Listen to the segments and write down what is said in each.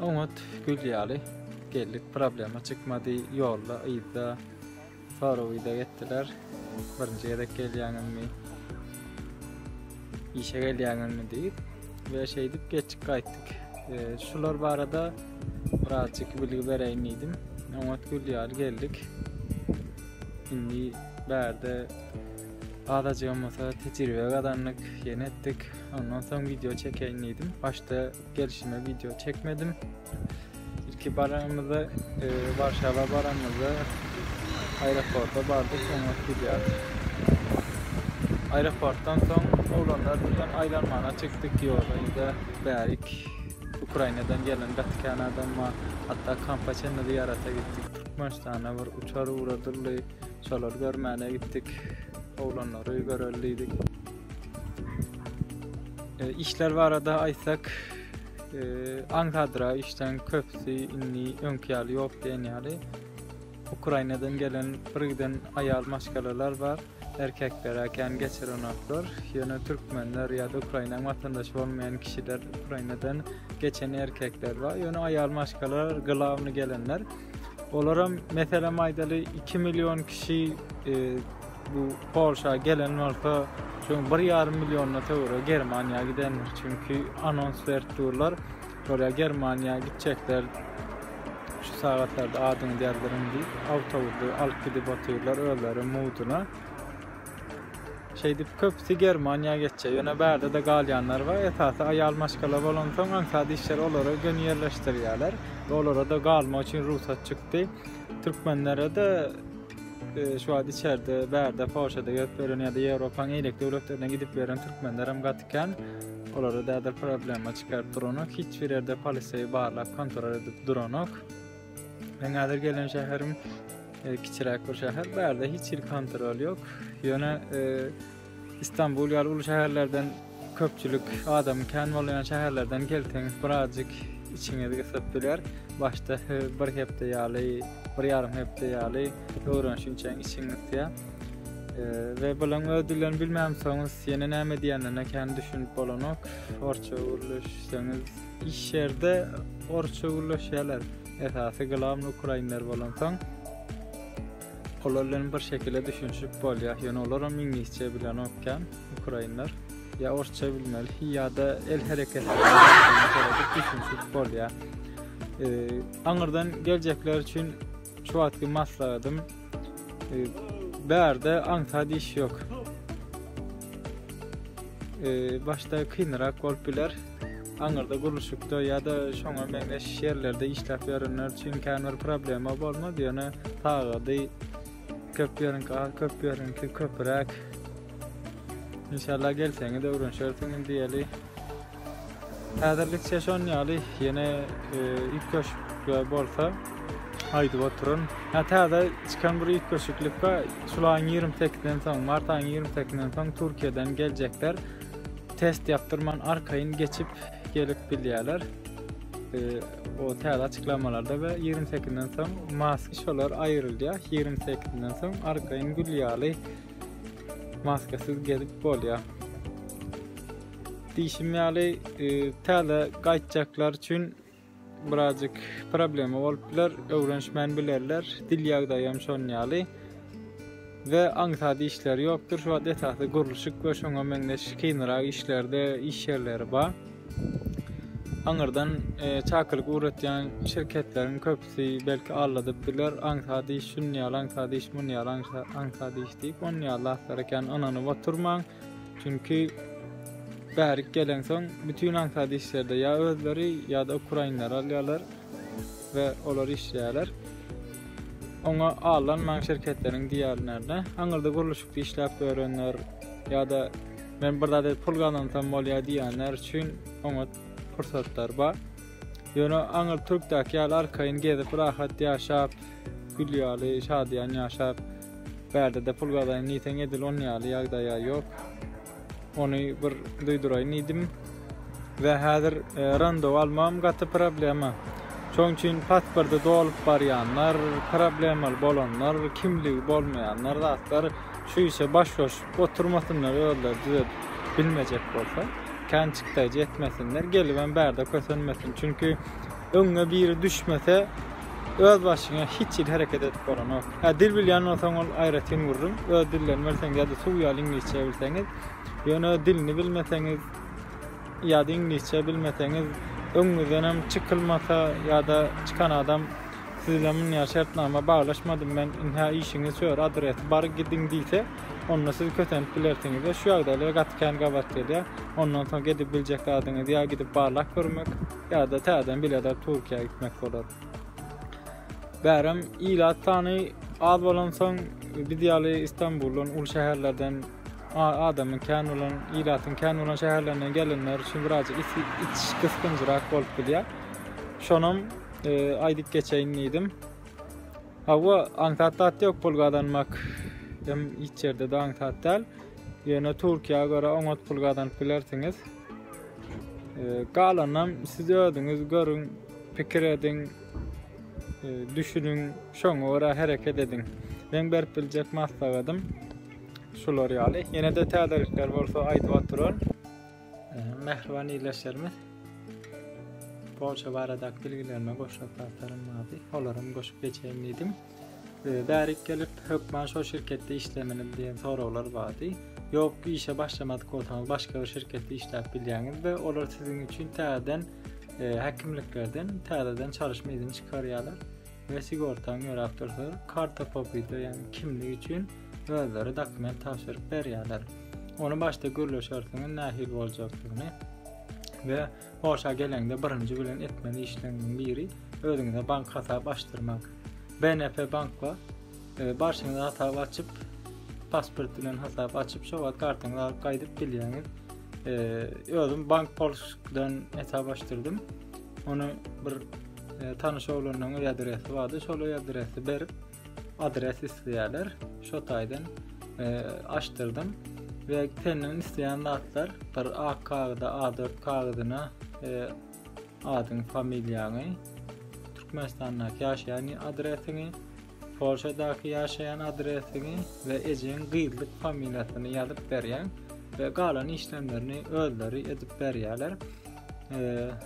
Oňat gül ýaly geldik problema çykmady ýolda yzda soraw yzak etdiler birinji gezek gelýäňizmi işe gelýäňizmi diýip we şeýdip geçip gaýtdyk e, şular barada birazjyk bilgi bereýin diýdim oňat gül ýaly geldik indi bärde azajygam bolsa tejribe gazandyk ýene etdik ondan soň video çekeýin diýdim başda Gelşime video çekmedim. İlki baranymyzda e, Warşawa baranymyzda aeroporta bardyk, soňra gidýärdik. Aeroportdan soň oglanlar bilen aýlanmana çykdyk ýola. Ýa bärik Ukrainadan gelen gatykan adam bar. Hatda kampa çenli zyýarata gitdik. Türkmenistana bir uçar ugradyldy. Şolary görmäne gitdik. Oglanlary görelidik. E, işler barada aýtsak, e, aňsadra işden köpüsi indi öňki ýaly ýok diýen ýaly. Ukrainadan gelen bir giden aýal maşgalalar bar. Erkekler äken geçirenoklar. Ýöne türkmenler ýa-da Ukrainaň watandaşy bolmaýan kişiler Ukrainadan geçen erkekler bar. Ýöne aýal maşgalalar gylawny gelenler. Olaram meselem aýdaly 2 million kişi e, Bu Polşa gelen bolsa, şoň bir ýarym milliona töwere Germaniýa gidendir. Çünki anons berip durlar. Şolar Germaniýa gitjekler. Şu sagatlarda adyňy ýazdyryn diýip, awtobusy alyp gidip otyrlar özleri muduna. Şeýdip köpüsi Germaniýa geçjek. Ýöne bärde-de galýanlar bar. Esasy aýal maşgala bolansoň, aňsat işçiler olary göni ýerleşdirýärler. Olara-da galmak üçin rugsat çykdy. Türkmenlere-de Şu wagt içerde, bärde, Polşada gezip ýören ýa-da Ýewropaň eýlek döwletlerine gidip ýören türkmenler hem gaty kän. Olara däder problema çykaryp duranok, hiç bir ýerde polisiýa barlap kontrol edip duranok. Men häzir gelen şäherim e, kiçiräk bir şäher, bärde hiç hil kontrol ýok. Ýöne e, Istanbul ýaly uly şäherlerden köpçülik adamyň kän bolýan şäherlerden gelseňiz birazjyk içiňizi gysyp biler. Başda bir hepde ýaly, bir ýarym hepde ýaly öwrenişiň üçin içiň gysýar. we bilen öz dilini bilmämsoňuz ýene näme diýenine kän düşünip bolanok orça gürleşseňiz iş ýerde orça gürleşýärler esasy glam ukrainler bolansoň Olar bilen bir şekile düşünişip bolýa ýöne olaram iňlisçe bilenok kän ukrainler ýa orsça bilmeli ýa-da el hereketi düşünişip bolýa aňyrdan geljekler üçin şu wagtky maslahatym bärde aňsat iş ýok başda kynrak bolup biler aňyrda gurluşykda ýa-da şoňa meňzeş ýerlerde işläp ýörenler üçin kän bir problema bolmaz, ýöne sagady köp ýeriňki az, köp ýeriňki köpräk. Inşallah gelseňiz öwrenşersiňiz diýeli. Häzirlikçe şon ýaly ýene e, ip köşükler bolsa aýdyp oturun. Ha täze çykan bir ip köşüklik bar. Şulaň 28-den soň, mart aýyň 28-den soň Türkiýeden geljekler. Test ýapdyrman arkaýyn geçip gelip bilýärler. O täze açyklamalarda we ýigrimi sekizinden soň mask şolar aýrylýar. Ýigrimi sekizinden soň arkaýyn gül ýaly maskasyz gezip bolýar. Diýşim ýaly, e, täze gaýtjaklar üçin Birazjyk problema bolup biler, öwrenişmän bilerler. Dil ýagdaýy hem şon ýaly. We aňsat işleri ýokdur. Şu wagt esasy gurluşyk we şoňa meňzeş kynrak işlerde iş ýerleri bar. Aňyrdan e, çakylyk ugratýan şirketleriň köpüsi belki aldadyp biler. Aňsat iş şun ýaly, aňsat iş mun ýaly, aňsat iş diýip, on ýaly zatlara kän ynanyp oturmaň. Çünki bärik gelensoň bütin aňsat işlerde ýa özleri ýa-da ukrainleri alýarlar we olar işleýärler. Oňa allanmaň şirketleriň diýýärlerine, aňyrda gurluşykda işläp ýörenler ýa-da men bir zat edip pul gazansam bolýar diýýänler üçin oňa pursatlar bar. Ýöne aňyr türkdäki ýaly arkaýyn gezip, rahat ýaşap, Gül ýaly şadyýan ýaşap, bärde-de pul gazaýyn diýseň edil on ýaly ýagdaýa ýok. Ony bir duýduraýyn diýdim. We häzir randewu almagam gaty problema. Şoň üçin pasporty dolup barýanlar, problemaly bolanlar, kimligi bolmaýanlar zatlar şu işe baş goşup oturmasynlar özleri düzedip bilmejek bolsa. Kän çykdaýjy etmesinler, gelibem bärde kösenmesin. Çünki Öňňe biri düşmese özbaşyňa hiç hili hereket edip bolanok. Hä dil bilýän bolsaň ol aýratyn gürrüň. Öz dillerini bilseň ýa-da suw ýaly iňlisçe bilseňiz, ýöne öz dilini bilmeseňiz ýa-da iňlisçe bilmeseňiz öňňüzden hem çykylmasa ýa-da çykan adam siz bilen munýa şertnama baglaşmadym men inhä işiňiz şu ýer adresi bar gidiň diýse onda siz kösenip bilersiňiz we şu ýagdaýlar gaty kän gabat gelýär ondan soň edip biljek zadyňyz ýa gidip barlap görmek Ýa-da täzeden bileler Türkiýä gitmek bolar. Bärem ilat sany az bolansoň biz ýaly Istanbuldan, uly şäherlerden adamyň kän bolan, ilatyň kän bolan şäherlerinden gelenler üçin birazjyk iç gysgynjyrak bolup bilýär. Şonam e, aýdyp geçeýin diýdim. Hawa, aňsat zat ýok pul gazanmak. Hem hiç ýerde de aňsat däl. Ýöne Türkiýä görä oňat pul gazanyp bilersiňiz. Galanam siz özüňiz görüň, pikir ediň, e, düşüniň, şoňa görä hereket ediň. Men berip biljek maslahatym şular ýaly. Ýene-de täzelikler bolsa aýdyp oturaryn. E, mähriban ildeşlerimiz, Polşa baradaky bilgilerime goşmak zatlarym bardy. Olaram goşup geçeýin diýdim. Ee, bärik gelip hökman şol şirketde işlemini diýen soraglar bardy. Ýok, işe başlamadyk bolsaňyz başga bir şirketde işläp bilýäňiz we olar siziň üçin täzeden e, häkimliklerden täzeden çalyşma izni çykarýarlar we sigortaň ýöräp dursa karta popyda ýagny kimlik üçin özleri dokument tabşyryp berýärler. Ony başda gürleşersiňiz nähili boljakdygyny we Polşa geleňde birinji bilen etmeli işleriňiziň biri özüňize bank hasap açdyrmak. BNP bankga e, barşyňyz hasap açyp, pasport bilen hasap açyp, şo wagt kartaňyzy alyp gaýdyp bilýäňiz. E, özüm bank polşdan hasap açdyrdym. Ony bir e, tanyş oglandan öý adresi bardy. Şol öý adresi berip, adres isleýärler. Şo taýdan e, açdyrdym we senden isleýän zatlar bir ak kagyzda A4 kagyzyna e, adyň, familiýaňy, Türkmenistandaky ýaşaýan adresiňi, Polşadaky ýaşaýan adresiňi we ejeň gyzlyk familiýasyny ýazyp berýän we galan işlemlerini özleri edip berýärler. E,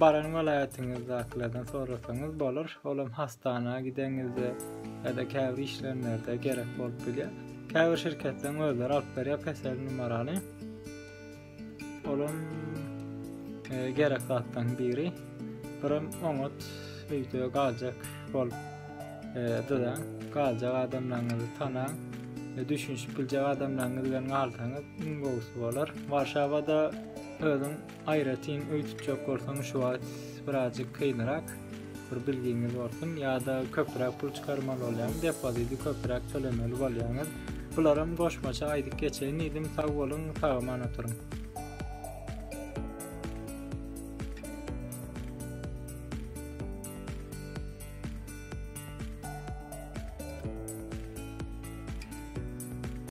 Baran welaýatyňyzdakylardan sorasaňyz bolar. Olam hastana gideňizde ýa-da käbir işlenlerde gerek bolup bilýär. Käbir şirketleriň özleri alyp berýär PESEL numarany. Olam e, gerek zatdan biri. Birim oňat öýde galjak bolup e, dyzaň, galjak adamlaryňyzy tanaň. E, düşünişip biljek adamlaryňyz bilen galsaňyz iň gowusy bolar. Warşawada özüň Aýratyn öý tutjak bolsaň şu wagt birazjyk kynrak, bir bilgiňiz bolsun, ýa-da köpräk pul çykarmaly bolýaňyz, depozidi köpräk tölemeli bolýaňyz. Bularam goşmaça aýdyp geçeýin diýdim, sag boluň, sag-aman oturyň.